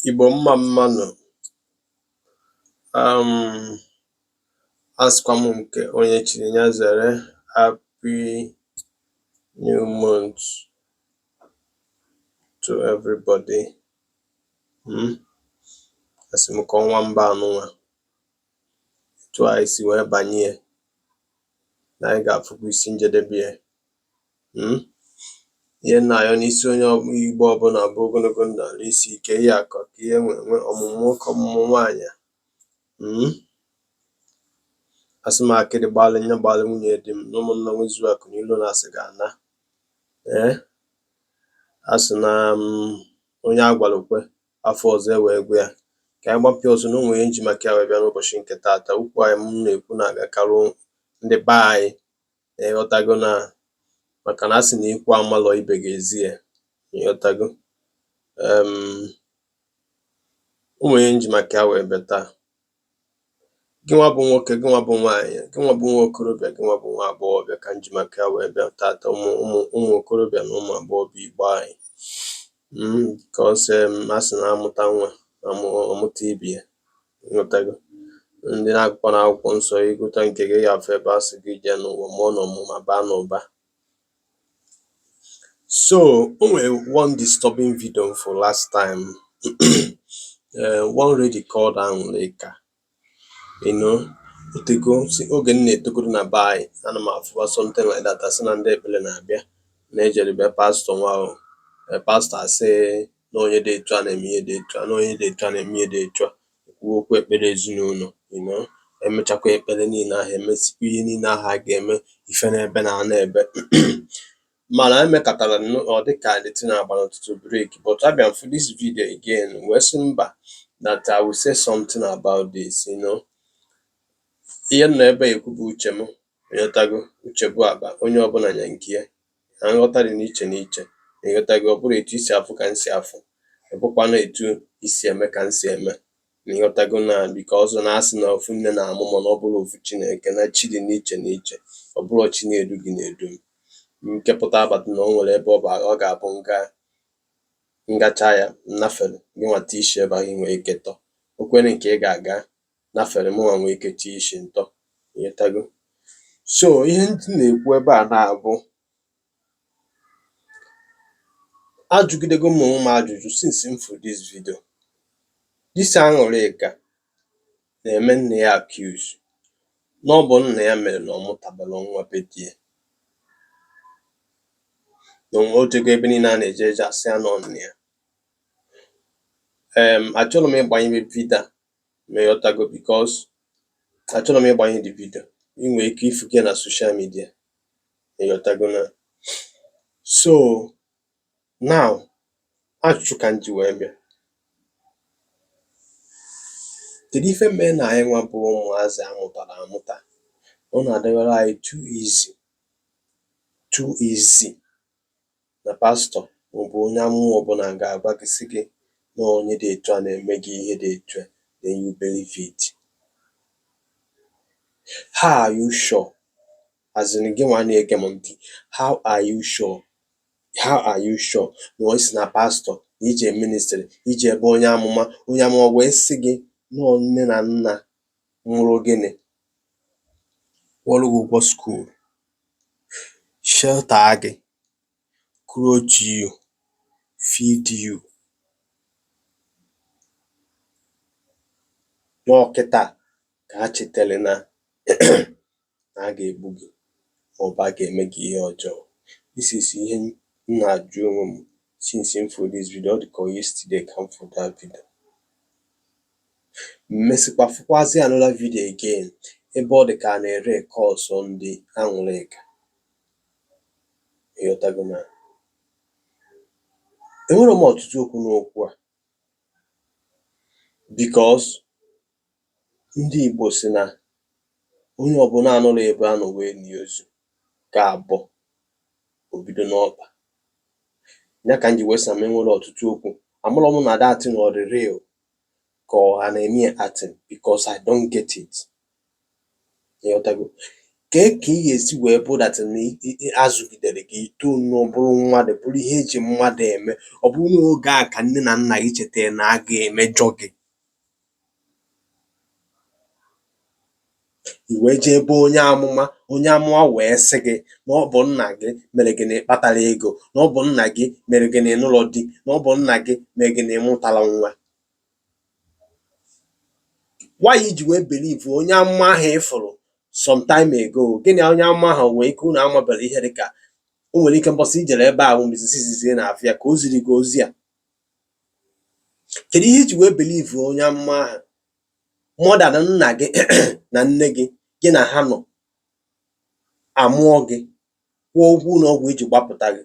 Igbo mma mma nụ, um asịkwa m nke onye chiri ya zere happy new month to everybody hmm? asị m ka ọnwa ember anụnwa etu anyị si wee banye na anyị ga-afụkwa isi njedebe ya um Ihe m na-ayọ n'isi onye Igbo ọbụla bụ ogologo ndụ arụ isi ike ihe akụ akụ ihe enwe enwe ọmụmụ nwoke ọmụmụ nwaanyị um asị m akịdị gbalị ya gbalị nwunye di m na ụmụnna nwezuo akụ na ilo na asị ga ana ee eh? asị na um, onye a gwara o kwe afọ ọzọ e wee gwa ya ka anyị gbapịa ọzọ na o nwe ihe m ji maka ya wee bịa n'ụbọchị nke taata okwu ahụ m na-ekwu na-agakarị ndị be anyị ịghọtago na maka na a sị na ikwu amalọ ibe ga-ezi ya ịghọtago o nwe ihe m ji maka ya wee bịa taa gị nwa bụ nwoke gị nwa bụ nwaanyị gị nwa bụ nwa okorobịa gị nwa bụ nwa agbọghọbịa ka m ji maka ya wee bịa taata ụmụ ụmụ okorobịa na ụmụ agbọghọbịa igbo anyị because a sị na a mụta nwa a mụta ibe ya Ịghọtago? Ndị na-agụkwa na akwụkwọ nsọ ị gụta nke gị ị ya-afụ ebe a sị gị jee n'ụwa mụọ n'ọmụmụ baa n'ụba so o nwere one disturbing video m fụrụ last time uh, one lady called Anwụlịka you know o tego si oge m na-etogoro na be anyị ana m afụwa something like that asị na ndị ekpere na-abịa na-ejere be pastor nwa ahụ pastor asị na onye dị etu a na-eme ihe dị etu a na onye dị etu a na-eme ihe dị etu a kwuo okwu ekpere ezinụlọ you know emechakwa ekpere niile ahụ emesikwa ihe niile ahụ a ga-eme ife na-ebe na ana ebe mana emekatara ọ dị ka the thing agba n'ụtụtụ break but abịa m fụ this video again wee sị mba that I will say something about this you know ihe m nọ ebe a ekwu bụ uche m ịghọtago uche bụ akpa onye ọbụla nya nke ya na nghọta dị n'iche n'iche na ịghọtago ọ bụrọ etu i si afụ ka m si afụ ọ bụkwanụ etu i si eme ka m si eme na ịghọtago na because na a sị na ofu nne na-amụ mana ọ bụrọ ofu chi na-eke na chi dị n'iche n'iche ọ bụrọ chi na-edu gị na-edu m nke pụta abata na o nwere ebe ọ bụ ọ ga-abụ nga m gacha ya m nafere gị nwata isi ebe ahụ nwee ike tọ okwere nke ị ga-aga nafere mụnwa nwee ike tie isi ntọ ịghọtago so ihe ndị na-ekwu ebe a na-abụ ajụgidego m onwe m ajụjụ since m fụ this video this aṅụrịka na-eme nna ya accuse na ọ bụ nna ya mere na ọ mụtabara nwa be di ya na o nwe o jego ebe niile a na-eje eje a sị ya na ọ nna ya em achọrọ m ịgbanyebe video ma ịghọtago because achọrọ m ịgbanye the video i nwe ike ịfụ ya na social media ma ịghọtago na so now ajụjụ ka m ji wee bịa kedu ife mee na anyị nwa bụ ụmụazị a mụtara amụta ọ na-adịwara anyị too easy too easy na pastọ ma ọ bụ onye amụma ọ bụla ga-agwa gị sị gị na onye dị etu a na-eme gị ihe dị etu a, then you believe it. How are you sure? As in gị nwa na-ege m ntị, how are you sure? How are you sure na o si na pastọ, i jee ministry, i jee ebe onye amụma, onye amụma wee sị gị na nne na nna mụrụ gị nị, kwụọrọ gị ụgwọ school, shelter a gị, clothe you, feed you, na ọ kịta ka ha chetere na na a ga-egbu gị ma ọ bụ a ga-eme gị ihe ọjọọ. This is ihe m na-ajụ onwe m since m fụrụ this video. Ọ dị ka yesterday ka m fụrụ that video. M mesịkwa fụkwazị another video again ebe ọ dị ka a na-ereconcile ndị Aṅụrịka. Ịghọtago na enwere m ọtụtụ okwu n'okwu a because Ndị Igbo sị na onye ọbụla anọrọ ebe a nọ wee lie ozu ga-abọ, o bido n'ọkpa. Ya ka m ji wee sị na m enwere ọtụtụ okwu. Amarọ m na that thing ọ dị real ka ọ ha na-eme ya acting because I don't get it. Ịghọtago? Kee ka ị ga-esi wee bụ that na ị- ị- ị- a zụgidere gị i too nnọọ bụrụ mmadụ bụrụ ihe e ji mmadụ eme ọ bụrụ n'oge a ka nne na nna gị chetara na a ga-emejọ gị I wee jee be onye amụma, onye amụma wee sị gị na ọ bụ nna gị mere gị na ị kpatara ego, na ọ bụ nna gị mere gị na ị nụrọ di, na ọ bụ nna gị mere gị na ị mụtara nwa. Why i ji wee believe onye amụma ahụ ị fụrụ some time ago? Gị na onye amụma ahụ nwee ike unu amabere ihe dị ka o nwere ike mbọsị i jere ebe a bụ mbọsị izizi ị na-afụ ya ka o ziri gị ozi a. Kedụ ihe i ji wee believe onye amụma ahụ more than nna gị na nne gị gị na ha nọ, a mụọ gị, kwụọ ụgwọ ụlọ ọgwụ e ji gbapụta gị,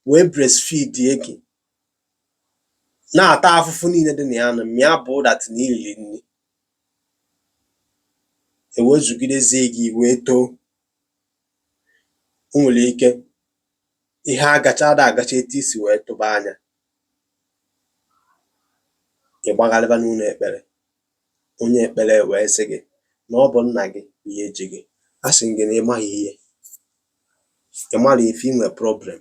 wee breastfeedie gị, na-ata afụfụ niile dị na ya nụ, mịa bụ that na i riri nri, e wee zụgidezie gị i wee too. O nwere ike ihe agacha ada agacha etu i si wee tụba anya ị gbagharịba n'ụlọ ekpere onye ekpere wee sị gị na ọ bụ nna gị bụ ihe ji gị a sị gị na ị maghị ihe ị marọ ife i nwe problem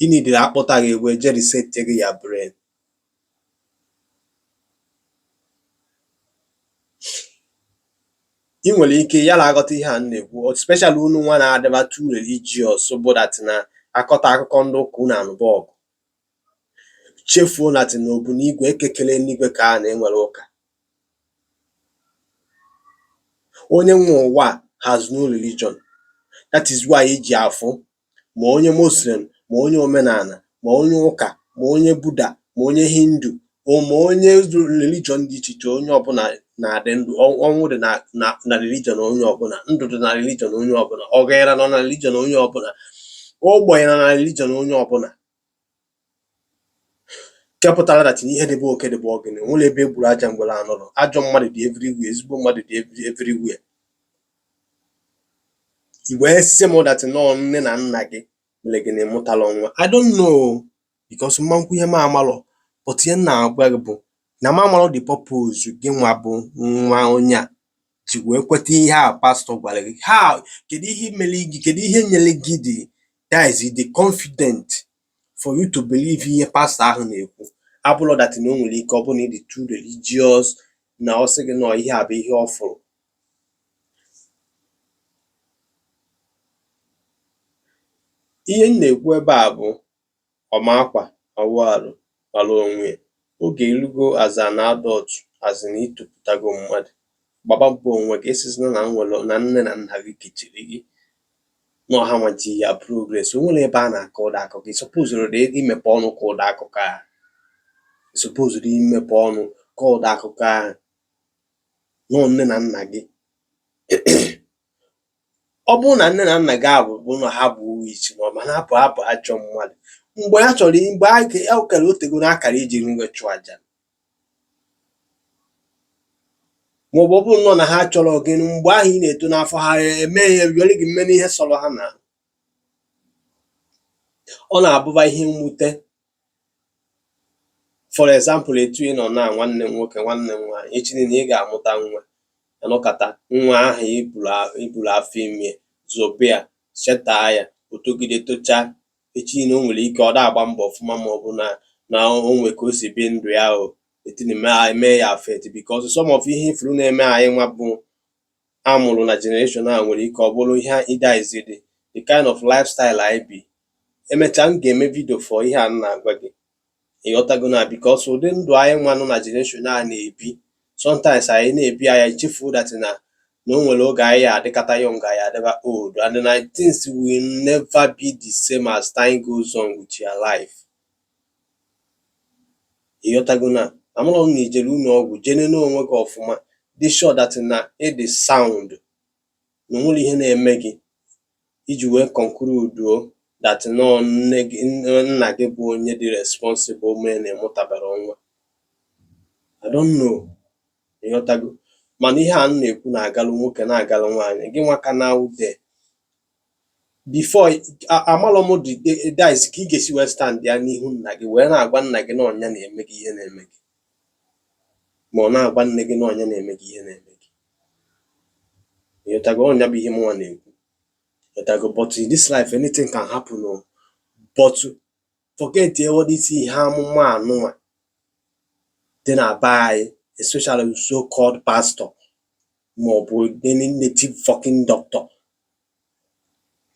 ị needịrị a kpụta gị ebe e je reset gị your brain i nwere ike yala aghọta ihe a m na-ekwu especially unu nwa na-adịba too religious bụ that na a kọta akụkọ ndị ụka unu anụba ọgụ chefuo that na Obu n'igwe Eke kele enigwe kee ana enwerọ ụka onye nwe ụwa has no religion that is why e ji afụ ma onye Muslim ma onye omenala ma onye ụka ma onye Buddha ma onye Hindu ma onye religion dị iche iche onye ọbụla na-adị ndụ ọnwụ dị na religion onye ọbụla ndụ dị na religion onye ọbụla ọgaranya nọ na religion onye ọbụla ogbenye nọ na religion onye ọbụla nke pụtara that na ihe dị be oke dị be ọgịnị o nwerọ ebe e gburu aja ngwere anọrọ ajọ mmadụ dị everywhere ezigbo mmadụ dị everywhere i wee sị m that nọ nne na nna gị mere gị na ị mụtalọ nwa i don't know because ama m ekwu ihe m amalọ but ihe m na-agwa gị bụ na m amalọ the purpose gị nwa bụ nwa onye a ji wee kweta ihe a pastọ gwara gị ha kedu ihe mere gị kedu ihe nyere gị the guts the confident for you to believe ihe pastọ ahụ na-ekwu abụrọ that na o nwere ike ọ bụrụ na ị dị too religious na ọ sị gị na ihe a bụ ihe ọ fụrụ ihe m na-ekwu ebe a bụ Ọ ma akwa, awụ arụ mara onwe ya. Oge erugo as an adult, as in i toputago mmadụ, gbaba mbọ onwe gị. Asịzina na nwere na nne na nna gị kechiri gị, nọ ha nwa ji your progress. O nwerọ ebe a na-akọ ụdị akụkọ. I supposerọdị imepe ọnụ kọọ ụdị akụkọ ahụ. I supposerọdị imepe ọnụ kọọ ụdị akụkọ ahụ. Nọ nne na nna gị Ọ bụrụ na nne na nna gị abụ bụ na ha bụ witch ma ọ bụ na ha bụ ha bụ ajọ mmadụ mgbe ha chọrọ mgbe a ka- a kara o tego na a kara iji gị chụọ aja ma ọ bụ ọ bụrụ nọ na ha achọrọ gị mgbe ahụ ị na-eto n'afọ ha eme ihe were gị mee ihe sọrọ ha na ọ na-abụba ihe mwute for example etu ị nọ na nwanne m nwoke nwanne m nwaanyị echi niile ị ga-amụta nwa anọkata nwa ahụ iburu afọ ime zobe ya cheta ya otogide tocha echi niile o nwere ike ọ da agba mbọ ọfụma ma ọ bụ na na o nwee ka o si bi ndụ ya o the thing emee ya affect because some of ihe ifuru na-eme anyị nwa bụ a mụrụ na generation a nwere ike ọ bụrụ ihe either is the the kind of lifestyle anyị bi emechaa m ga-eme vidio for ihe a m na-agwa gị ịghọtago na because ụdị ndụ anyị nwa nọ na generation a na-ebi sometimes anyị na-ebi anyị echefu that na na o nwere oge anyị adịkata young anyị adịba old and na things will never be the same as time goes on with your life Ị ghọtago na amụrụ m na ijere ụlọ ọgwụ jee nene onwe gị ọfụma dị sure that na ịdị sound na onwerọ ihe na-eme gị iji wee conclude that na ọ nna gị bụ onye dị responsible mee na ịmụtabarọ nwa I don't know ịghọtago mana ihe a m na-ekwu na-agalụ nwoke na-agalụ nwaanyị gị nwa ka na ude before amalọ m this ka ị ga-esi wee stand ya n'ihu nna gị wee na-agwa nna gị na ọ nya na-eme gị ihe na-eme gị ma ọ na-agwa nne gị na ọ nya na-eme gị ihe na-eme gị ịghọtago ọ nya bụ ihe mụnwa na-ekwu ịghọtago but in this life anything can happen o but forget all this ihe amụma anụnwa dị na be anyị especially so called pastor ma ọ bụ any native fucking doctor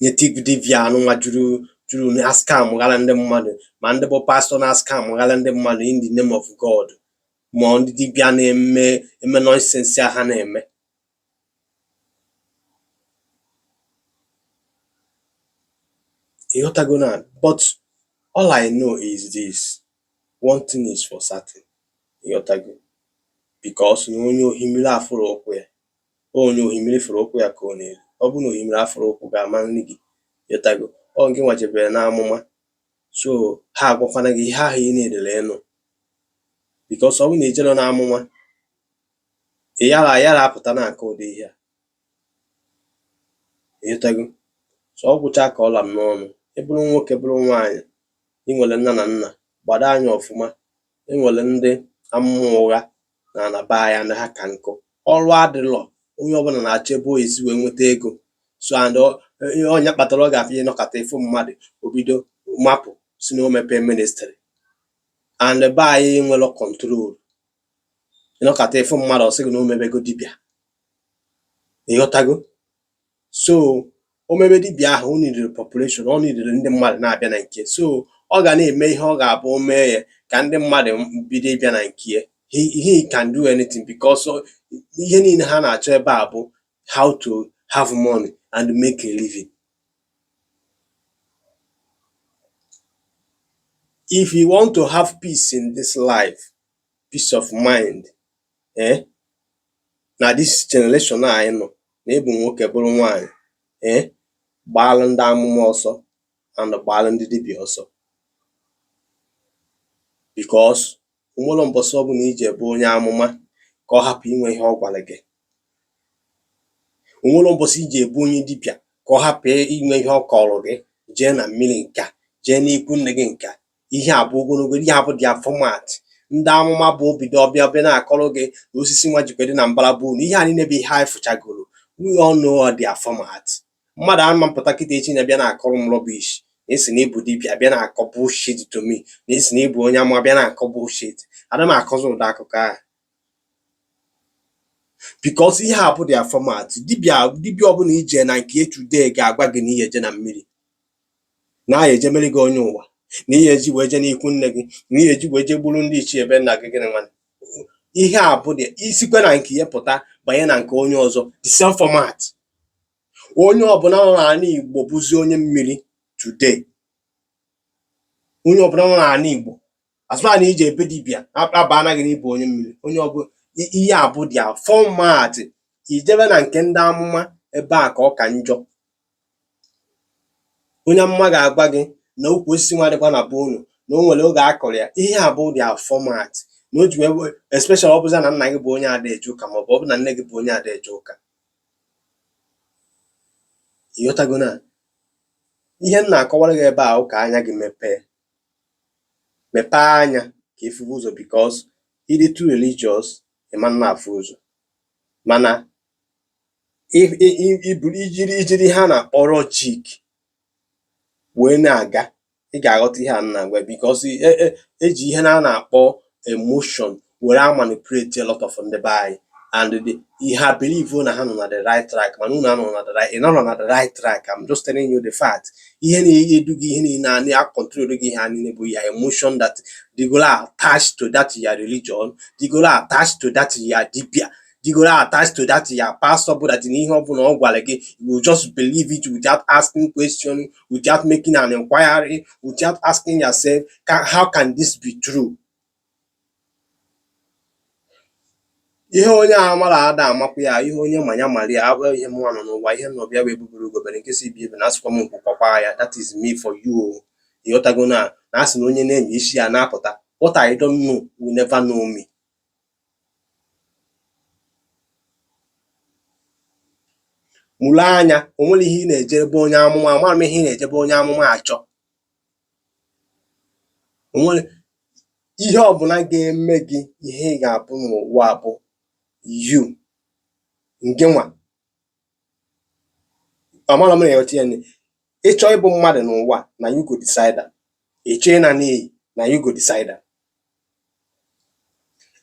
native dibia anụnwa juru juru na-ascam ghara ndị mmadụ ma ndị bụ pastor na-ascam ghara ndị mmadụ in the name of God ma ndị dibia na-eme eme nonsense a ha na-eme ịghọtago na but all I know is this one thing is for certain ịghọtago because na onye ohimiri afụrọ ụkwụ ya onye ohimiri fụrụ ụkwụ ya ka ọ na-eri ọ bụrụ na ohimiri afụrọ ụkwụ gị ama nri gị ịghọtago ọ gị nwa jebere n'amụma so ha agwakwana gị ihe ahụ ị na-edere ịnụ because ọ bụrụ na ijerọ n'amụma ị yara yara apụta na-akọ ụdị ihe a ịghọtago so ọ gwụcha ka ọ la m n'ọnụ ị bụrụ nwoke bụrụ nwaanyị ị nwere nna na nna gbado anya ọfụma e nwere ndị amụma ụgha nọ na be anyị na ha ka nkụ ọrụ adịlọ onye ọbụla na-achọ ebe ọ ya-esi wee nweta ego so and ọ nya kpatara ị ga-afụ ị nọkata ịfụ mmadụ o bido mapụ sị na o mepee ministry and be anyị enwerọ control ịnọkata ịfụ mmadụ ọsị gị na omebego dibịa ịghọtago so omebe dibịa ahụ o nidere population ọ nidere ndị mmadụ na-abịa na nke so ọ ga na-eme ihe ọ ga-abụ o mee ya ka ndị mmadụ bido ịbịa na nke ya he, he can do anything because ọ- ihe niile ha na-achọ ebe a bụ how to have money and make a living if you want to have peace in this life peace of mind ee eh? na this generation anyị nọ na ịbụ nwoke bụrụ nwaanyị ee eh? gbaalụ ndị amụma ọsọ and gbaalụ ndị dibịa ọsọ because onwerọ mbọsị ọbụla ije ebe onye amụma ka ọ hapụ inwe ihe ọ gwara gị onwerọ mbọsị ije ebe onye dibịa ka ọ hapụ inwe ihe ọ kọrọ gị jee na mmiri nka jee n'ikwu nne gị nka ihe a bụ gịnị ihe a bụ their format ndị amụma bụ obido ọbịa ọbịa na-akọrọ gị na osisi nwa jikwa dị na mbara be unu ihe a niile bụ ihe anyị fụchagoro we all know their format mmadụ ama apụta kịta echi a bịa na-akọrọ m rubbish n'isi na ịbụ dibịa bịa na-akọ bullshit to me n'isi na ịbụ onye amụma bịa na-akọ bullshit ada m akọzi ụdị akụkọ ahụ because ihe a bụ their format dibịa ọbụla ije na nke today ga-agwa gị na ị ya-eje na mmiri na a ya-eje emere gị onye ụwa na ihe eji wee je n'ikwu nne gị na ihe eji wee je gburu ndị ichie ebe nna gị gịnị nwanne ihe a bụ dị isikwa na nke ya pụta banye na nke onye ọzọ the same format onye ọbụla nọ n'ala Igbo bụzi onye mmiri today onye ọbụla nọ n'ala Igbo assuming na ije ebe dibịa agbaara gị n'ịbụ onye mmiri onye ọbụla ihe a bụ their format ijebe na nke ndị amụma ebe a ka ọ ka njọ onye amụma ga-agwa gị na ukwu osisi nwa dịkwa na be unu na o nwere oge a kụrụ ya ihe a bụ their format na o ji wee wee- especially ọ bụza na nna gị bụ onye ada eje ụka maọbụ ọ bụ na nne gị bụ onye ada eje ụka ịghọtago na ihe m na-akọwara gị ebe a bụ ka anya gị mepee mepee anya ka ịfụba ụzọ because ịdị too religious ịma na-afụ ụzọ mana ijiri ihe a na-akpọ logic wee na-aga ị ga-aghọta ihe a m na-agwa because e e eji ihe na a na-akpọ emotion were a manipulate a lot of ndị be anyị and ha believe na ha nọ na the right track mana unu anọ na the right ị nọrọ na the right track I'm just telling you the fact ihe na-edu gị ihe niile a na control gị ihe a niile bụ your emotion that dịgoro attached to that your religion dịgoro attached to that your dibia jigoro attached to that your pastor bụ that n'ihe ọbụla ọ gwara gị you just believe it without asking question without making an inquiry without asking yourself how can this be true ihe onye amarọ ada amakwa ya ihe onye ma ya mara ya abụrọ ihe m nọ n'ụwa ihe m nọbịa egbe bere ugo bere nke sị ibe ebena asịkwa m nku kwakwaa ya that is me for you ịghọtago na na asị na onye na-enye isi ya na-apụta what I don't know will never know me mụrụ anya o nwere ihe ị na-eje be onye amụma amarọ m ihe ị na-eje be onye amụma achọ o nwerọ ihe ọbụla ga-eme gị ihe ị ga-abụ n'ụwa bụ you ngị nwa amarọ m ị na-aghọta ya ịchọ ịbụ mmadụ n'ụwa na you go decide ịchọ ịna n'iyi na you go decide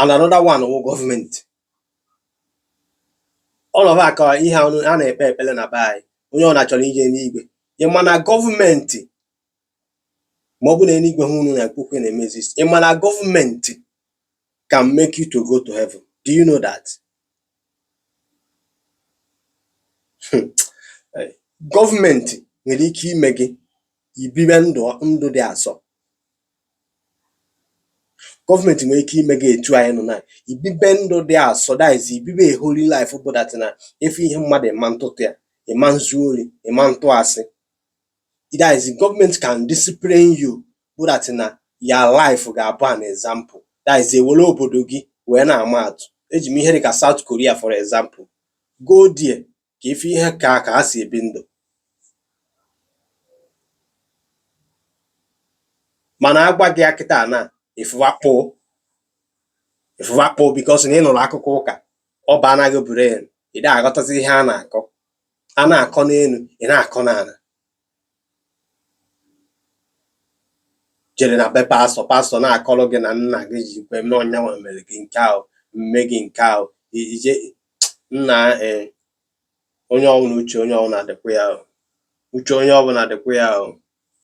and another one wụ gọọmenti ọnọba ka ihe a na-ekpe ekpere na be anyị onye ọbụna chọrọ ije enuigwe ị ma na gọọmenti ma ọ bụ na eluigwe ahụ unu na-ekwu okwu na-eme exist ị ma na gọọmenti can make you to go to heaven do you know that hmm. gọọmenti nwere ike ime gị ibibe ndụ ndụ dị asọ gọọmenti nwere ike ime gị etu anyị nọ na ibibe ndụ dị asọ that is ibibe a holy life bụ that na ị fụ ihe mmadụ ị ma ntụtụ ya ị ma nzu ori ị ma ntụ asị that is gọọmenti can discipline you bụ that na your life ga-abụ an example that is ewere obodo gị wee na-ama atụ eji m ihe dịka South Korea for example go there ka ị fụ ihe ka ka ha si ebi ndụ mana agwa gị ya kịta na ịfụwakpo ịfụwakpo because na ị nụrụ akụkọ ụka ọ banaa gị brain ị da aghọtazi ihe a na-akọ a na-akọ n'elu ị na-akọ n'ala jere na be pastọ pastọ na-akọrọ gị na nna gị ji kwe mee ọ nyanwa mere gị nke ahụ mee gị nke ahụ ije nna eh, onye ọbụla uche onye ọbụla dịkwa ya o. uche onye ọbụla dịkwa ya o.